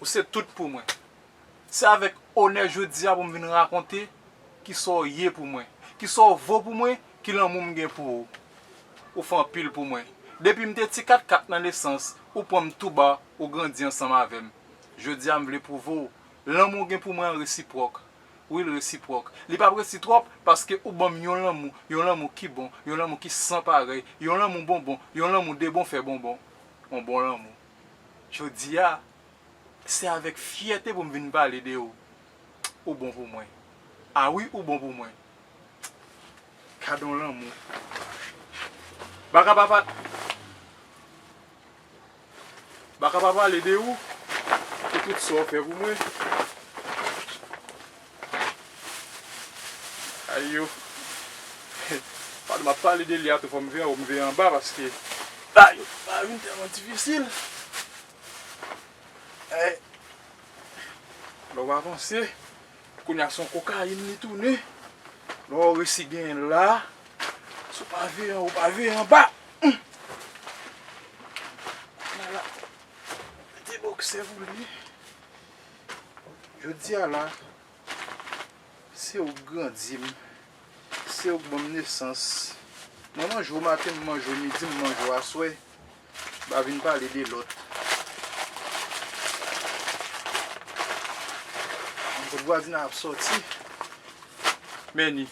Ou se tout pou mwen. Se avèk onè jodi a pou m vin rakonte ki sa w ye pou mwen, ki sa w vo pou mwen, ki lanmou m gen pou ou. Ou fè anpil pou mwen. Depi m te ti katkat nan nesans, ou pran m tou ba, ou grandi ansanm avè m. Jodi a m vle pwouve w, lanmou w gen pou mwen an resipwòk. Wi l resipwòk. Li pa p resi twòp paske ou ban m yon lanmou, yon lanmou ki bon, yon lanmou ki san parèy, yon lanmou bonbon, yon lanmou debon fè bonbon. yon bon lanmou. Jodi a, se avèk fyète pou m vin pale de ou. Ou bon pou mwen. A wi ou bon pou mwen. Gad yon lanmou. Baka pa pa. Baka pa pale de ou, pou tout sa ou fè pou mwen. Ay yo. Pale map pale de li a tou fòm veye awo m veye anba paske bagay yo pa vin tèlman difisil Ay Lè w avanse Kounye a son kokayin li tounen Lè w resi genyen l la Si w pa veye anwo w pa veye anba Humm Kounye a la Mete boksè pou li. Jodi a la, se ou k grandi m, se ou k ban m nesans. Mwen manje w maten, m manje w midi, m manje w aswè. M pa vin pale de lòt. Kot vwazina ap soti. Men li.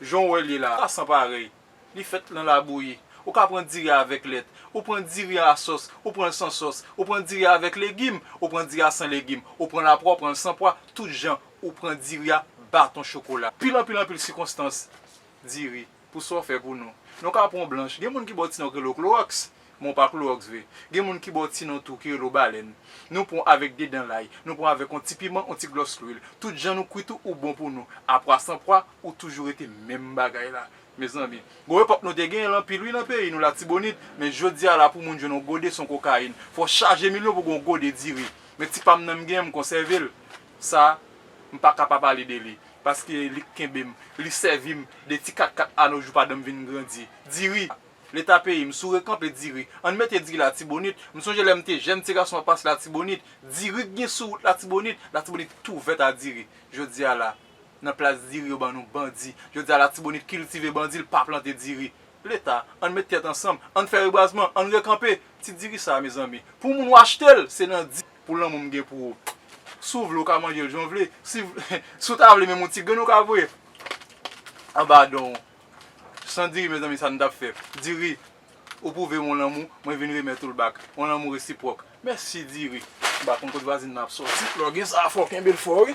Jan w wè l ye la, sa san parèy. Li fèt lan labouyi. Ou ka pran diri a avèk lèt. Ou pran diri a a sòs. Ou pran l san sòs. Ou pran diri a avèk legim. Ou pran diri a san legim. Ou pran l a pwa, ou pran l san pwa, tout jan. Ou pran diri a baton chokola. Pil anpil anpil sikonstans diri pou sa w fè pou nou. Nou ka pran w blanch. Gen moun ki ba w ti nan yo rele w klowòks. Men w pa klowòks vre. Gen moun ki ba w ti non tou ki rele w balèn. Nou pran w avèk de dan lay, nou pran w avèk yon ti piman, yon ti glòs lwil. Tout jan nou kwit ou, ou bon pou nou. A pwa san pwa, ou toujou rete menm bagay la. Mezanmi. Gwo epòk nou te genyen l anpil wi nan peyi nou Latibonit. Men jodi a la pou moun jwenn yon gode son kokayin. Fò w chaje milyon pou gen yon gode diri. Men ti pa m nan m genyen m konsève l. Sa, m pa ka pa pale de li. Paske li k kenbe m. Li sèvi m. De ti katkat a nou jou padan m vin grandi. Diri! Leta peyi m sou rekanpe diri ann mete diri latibonit m sonje lè m te jèn ti gason ap pase latibonit diri k gen sou wout latibonit latibonit t ouvèt a diri jodi a la nan plas diri yo ban nou bandi jodi a latibonit kiltive bandi l pa plante diri leta ann met tèt ansanm ann fè rebwazman ann rekanpe ti diri sa a mezanmi pou moun w achte l se nan di. Pou lanmou m gen pou ou si w vle w ka manje l jan w vle si w ta vle menm yon ti grenn ou ka voye anba don w San diri mezanmi sa nou tap fè diri ou pwouvem yon lanmou mwen vin remèt oul bak yon lanmou resipwòk mèsi diri. M pa konn kot vwazin nan ap soti. Lò gen sa fòw kenbel fò wi.